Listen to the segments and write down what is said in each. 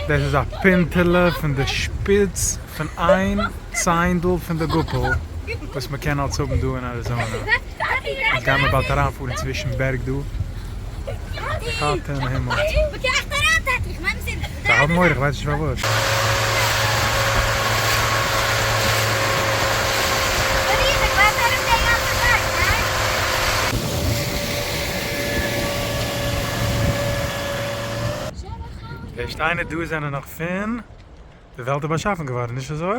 דאס איז א פינטעלע פון די שפיץ פון איין ציינדל פון די גאפל וואס מען קען אלס האבן דא אין אריזאנע. יעצט גייען מיר באלד אריינפארן צווישן בערג דא. די טאטע אין הימל. זיי האבן אויך, איך ווייס נישט פארוואס. די שטיינער דא זענען נאך פון די וועלט איז באשאפן געווארן, נישט אזוי?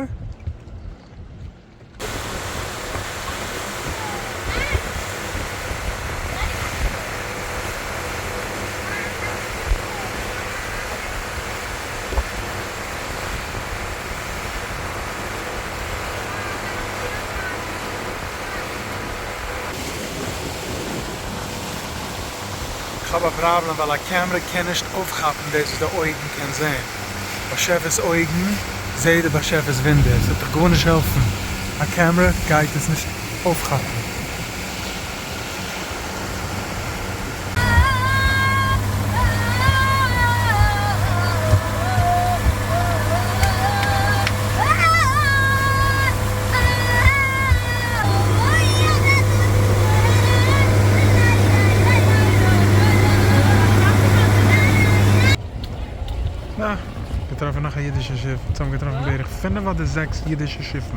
כ'האב א פראבלעם ווייל א קעמרע קען נישט אויפכאפן דאס וואס די אויגן קען זעהן. באשעפער'ס אויגן זעה די באשעפער'ס וואונדער. ס'וועט דאך גארנישט העלפן. א קעמרע גייט עס נישט אויפכאפן. געטראפן נאך א אידישע שיף, צוזאם געטראפן בערך פינף אדער זעקס אידישע שיפן.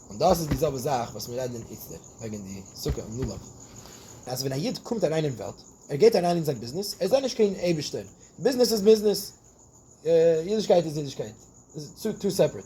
און דאס איז די זעלבע זאך וואס מיר רעדן איצטער וועגן די סוכה און לולב, אז ווען א יוד קומט אריין אין וועלט, ער גייט אריין אין זיין ביזנעס, ער זעט נישט קיין אייבישטער, ביזנעס איז ביזנעס, אידישקייט איז אידישקייט, טו סעפערעט.